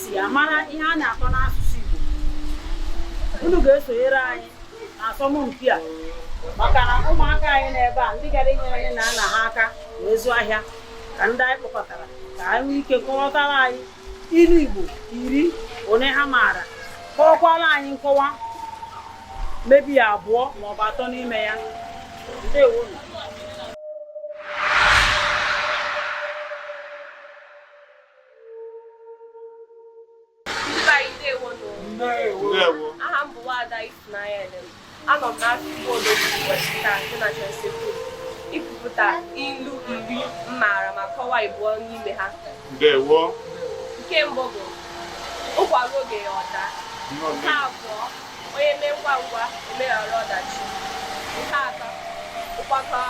si amara ihe a na-akọ n'asụsụ Igbo unu ga-esonyere anyị na asọmpi a maka na ụmụaka anyị n'ebe a ndị gara inyere nne na nna ha aka na ịzụ ahịa ka ndị anyị kpọkọtara ka ha nwee ike kọwatara anyị ilu Igbo iri onye ha maara kọwakwara anyị nkọwa maybe abụọ maọbụ atọ n'ime ya ndewo aha m bụ Nwaada Ifunanya Elem anọ m n'akụkụ obodo Washington dị na Chelsea ikwupụta ilu iri m maara ma kọwaa ịbụọ n'ime ha nke mbụ bụ ụkwa ruo oge ya ọ daa nke abụọ onye mee ngwa ngwa emeghara ọdachi nke atọ ụkpana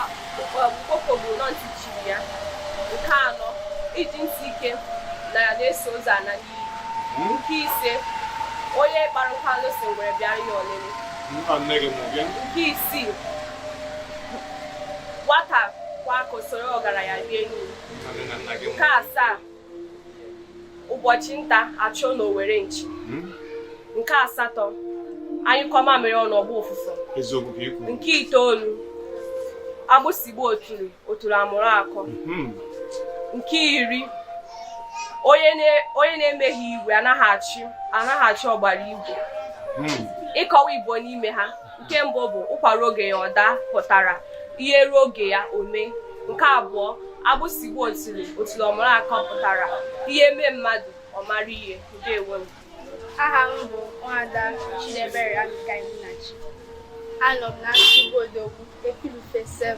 okpoko gburu ntị chiri ya nke anọ ijiji ntị ike na ya na-eso ozu ana n'inyi hmm? nke ise onye kpara nkụ arụrụ sị ngwere bịa ya oriri nke isii nwata kwọ aka o soro ọgaranya rie nri nke asaa ụbọchị nta a chụọ n'owere nchi hmm? nke asatọ a nyụkọọ mamịrị ọnụ ọ gbaa ụfụfụ nke itoolu agbụsị gbaa otule otule amụrụ akọ hmm. nke iri onye na-enweghị igwe anaghị achị ọgbara igwe hmm. ịkọwa ịbụọ n'ime ha nke mbụ bụ ụkwa ruo oge ya ọ daa pụtara ihe ruo oge ya o mee nke abụọ agbụsị gbaa otule otule ọ mụrụ akọ pụtara ihe mee mmadụ ọ mara ihe ndewo nụ aha m bụ Nwaada Chidebere Abikainachi anọ m na nsụgbu odogwu epilufe 7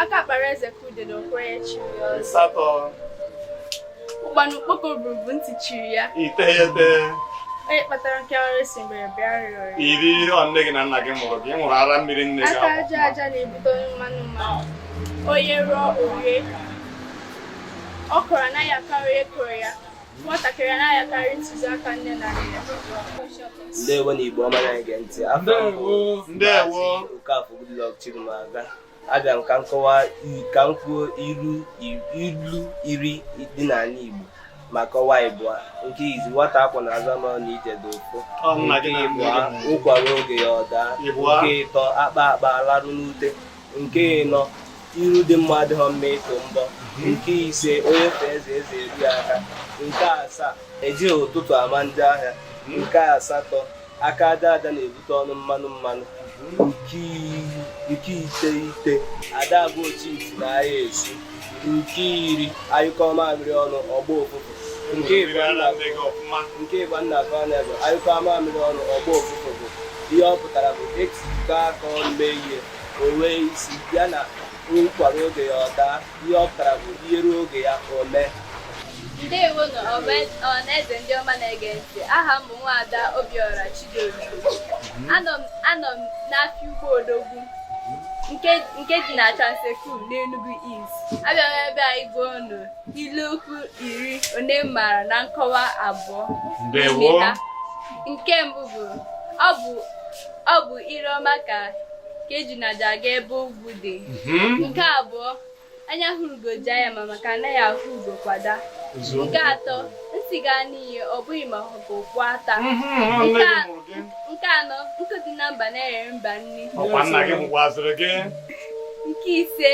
aka kpara eze ka udele okwenye chiri ya ọzọ ịsatọ ụkpana okpoko buru bụ ntị chiri ya iteghete onye kpatara nkụ arụrụ sị ngwere bịa rịọrọ ya iri ọ nne gị na nna gị mụrụ gị ị ṅụrụ ara mmiri nne gị aka aja aja na-ebute ọnụ mmanụ mmanụ onye rụọ o rie ọkwụrụ anaghị akarị onye kụrụ ya nwatakịrị anaghị akarị ntụziaka nne na nna ya ndewo nụ Igbo ọma na-ege ntị afọ ndewo okafọ Goodluck Chirumaga abịa m ka m kọwa ka m kwuo ilu iri dị n'ala Igbo ma kọwaa ịbụa nke izi nwata a kwọ n'azụ ama na ije dị ụfụ nke ịbụa ụkwa ruo oge ya ọ daa nke ịtọ a kpaa a kpaa a larụ n'ute nke ịnọ iru dị mma adịghị mma ịtụ mbọ nke ise onye fee eze eze eruo ya aka nke asaa ejighị ụtụtụ ama njọ ahịa nke asatọ aka aja aja na-ebute ọnụ mmanụ mmanụ nke iteghete ada agwa ochi ntị na ahịa esu nke iri a nyụkọọ mamịrị ọnụ ọ gbaa ụfụfụ nke ịbụa nna azụ anụ ebe a nyụkọọ mamịrị ọnụ ọ gbaa ụfụfụ bụ ihe ọ pụtara bụ e tikọọ aka ọnụ mee ihe o nwee isi ya na ụkwa ruo oge ya ọ daa ihe ọ pụtara bụ ihe ruo oge ya o mee ndewonụ ọhaneze ndị ọma na-ege ntị aha m bụ nwaada Obiora Chidozie anọ m n'afịa Ugbo Odogwu nke dị na Trans-Ekulu n'Enugu East abịara m ebe a ịgwa unu ilu okwu iri one m maara na nkọwa abụọ nke mbụ bụ ọ bụ ire ọma ka ejuna ji aga ebe ogwu dị mhm. nke abụọ anya hụrụ ugo jaa ya mma maka a naghị ahụ ugo kwa daa nke atọ ntị ga-anụ ihe ọ bụghị ma ọ ha ka okpu ata nke anọ nkụ dị na mba na-eghere mba nri nke ise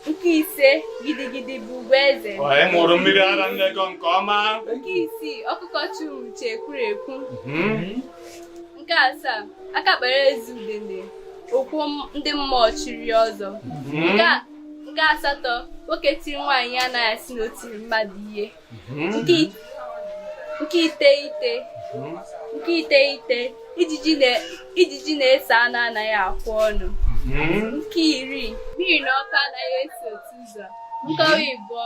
nke ise gidigidi bụ ugwu eze ị ṅụrụ mmiri ara nne gị nke ọma nke isii ọkụkọ chi uche ekwuru ekwu mhm. nke asaa aka kpara ezi udene okwu ndị mmụọ chiri ọzọ nke asatọ nwoke tiri nwaanyị a naghị asị na o tiri mmadụ ihe nke iteghete nke iteghete ijiji na-eso anụ anaghị akwụ ọnụ nke iri mmiri na ọkụ anaghị esi otu ụzọ nkọwa ịbụọ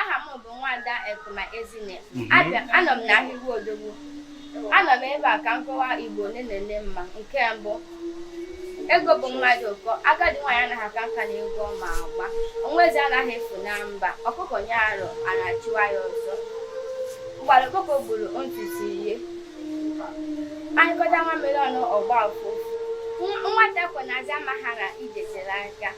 aha m bụ nwada Ekuma Ezinne mhm. abịa anọ m n'ahịa Ugbo Odogwu anọ m ebe a ka m kọwaa Igbo ole na ole m ma nke mbụ ego bụ mmadụ ụkọ agadi nwaanyị anaghị aka nka n'egwu ọ ma agba nwa eze anaghị efu na mba ọkụkọ nyụọ arụ ana achụwa ya ọsọ mgbara ọkụkọ gburu ntutu ihe a nyụkọta nwamịrị ọnụ ọ gbaa ụfụfụ nwata a kwọ n'azụ amaghị na ije tere aka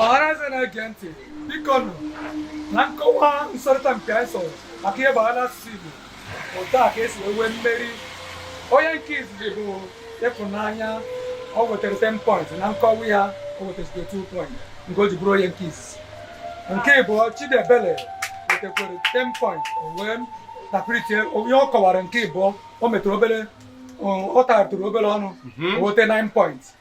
ọhaneze na-ege ntị bikonụ na nkọwa nsọrịta mpi anyị sọrọ maka ihe gbasara asụsụ Igbo otu a ka e si nwee mmeri onye nke izizi bụ Ịfụnanya o wetara 10 point na nkọwa ya o wetara 2 point nke o ji bụrụ onye nke izizi nke ịbụọ Chidiebele wetakwara 10 point o wee tapiritie onye ọ kọwara nke ịbụọ o metụrụ obere ọ taratụrụ obere ọnụ o weta 9 point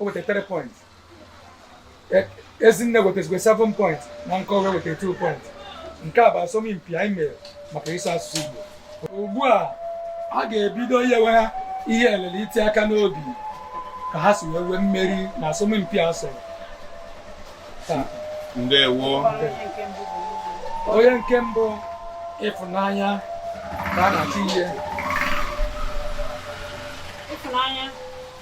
o weta 3 point e, Ezinne wetazikwa 7 point na nkọwa o weta 2 point nke a bụ asọmpi anyị mere maka ịsụ asụsụ Igbo ugbu a a ga-ebido inyewe ha ihe elele iti aka n'obi ka ha si wee nwee mmeri n'asọmpi a sọrọ ndewo onye nke mbụ Ịfụnanya ka a na-achọ ihe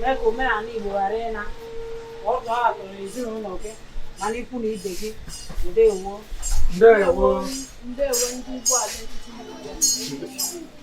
mee ka omenala Igbo ghara ịna ọ ga-atụrụ ezinụlọ gị ma na ikwu na ibe gị ndewo ndewo ndewo ndị Igbo Ide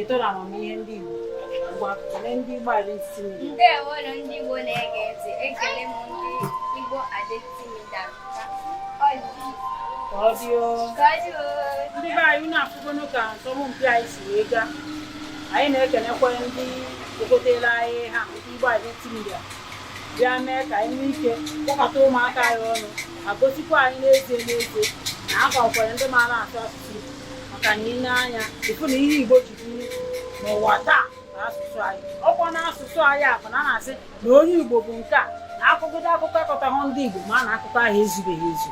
eto na amamihe ndị Igbo ngwa kelee ndị Igbo Identity Media ndewo nụ ndị Igbo na-ege ntị ekele m ndị Igbo Identity Media ka ọ dị o ndị be anyị unu afụgonu ka asọmpi anyị si wee gaa anyị na-ekenekwa ndị ogotere anyị ha ndị Igbo Identity Media bịa mee ka anyị nwee ike kpọkọta ụmụaka anyị ọnụ ma gosikwa anyị n'ezie n'ezie na a ka nwere ndị maara asụ asụsụ maka na i lee anya ị fụ na ihe Igbo ji biri n'ụwa taa na asụsụ anyị ọkwa na asụsụ anyị a bụ na a na-asị na onye Igbo bụ nke a na a kọkọta akụkọ akọtahụ ndị Igbo ma na akụkọ ahụ ezubeghị ezu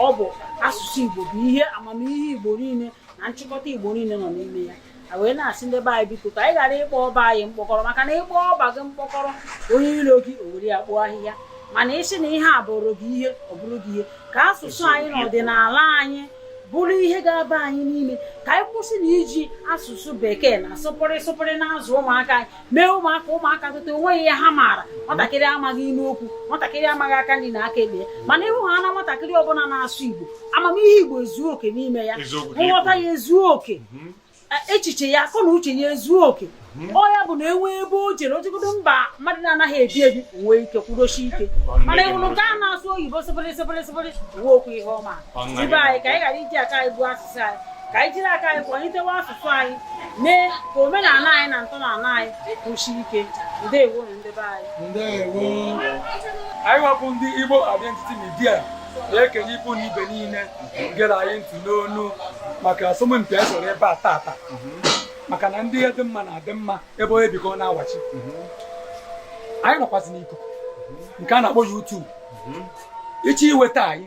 ọ bụ asụsụ Igbo bụ ihe amamihe Igbo niile na nchịkọta Igbo niile nọ n'ime ya wee na-asị ndị be anyị biko ka anyị ghara ịkpọ ọba anyị mkpọkọrọ maka na ị kpọọ ọba gị mkpọkọrọ onye ilo gị o were ya kpoo ahịhịa mana ị sị na ihe a bụrụ gị ihe ọ bụrụ gị ihe ka asụsụ anyị na ọdịnala anyị bụrụ ihe ga-aba anyị n'ime ka anyị kwụsị na iji asụsụ bekee na sụpụrị sụpụrị na-azụ ụmụaka anyị mee ụmụaka ụmụaka tota onweghị ihe ha maara nwatakịrị amaghị inu okwu nwatakịrị amaghị aka nri na aka ekpe mana ịhụ ha na nwatakịrị ọbụla na-asụ igbo amamihe igbo ezuo oke n'ime ya nghọta ya ezuo oke mhm. e, echiche ya akọ na uche ya ezuo oke mhm. ọ ya bụ na e nwee ebe o jere o jegodo mba mmadụ na-anaghị ebi ebi nwee ike kwụdosie ike mana ị hụrụ nke a na-asụ oyibo sịbịrị sịbịrị sịbịrị o nwekwọ ihe ọ ma ndị be anyị ka anyị ghara iji aka anyị gbuo asụ ka anyị jiri aka anyị kwalitewa asụsụ anyị mee ka omenala anyị na ntọala anyị kwụsie ike ndewo nụ ndị be anyị anyị wa bụ ndị Igbo Identity Media na-ekene ikwu na ibe niile gere anyị ntị n'ọnụ maka asọmpi anyị sọrọ ebe a tata maka na ndị dị mma na-adị mma ebe onye bi ka ọ na-awachi anyị nọkwazị n'ikuku nke a na-akpọ YouTube ị chọọ inweta anyị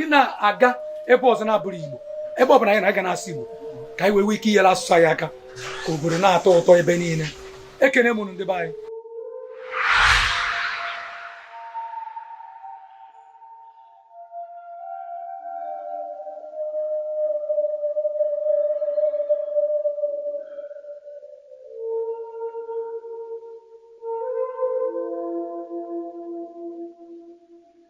ị na-aga ebe ọzọ na-abụrụ igbo ebe ọ bụla anyị na-aga na-asụ igbo ka anyị wee nwee ike inyere asụsụ anyị aka ka obodo na-atọ ụtọ ebe niile ekene m unu ndị be anyị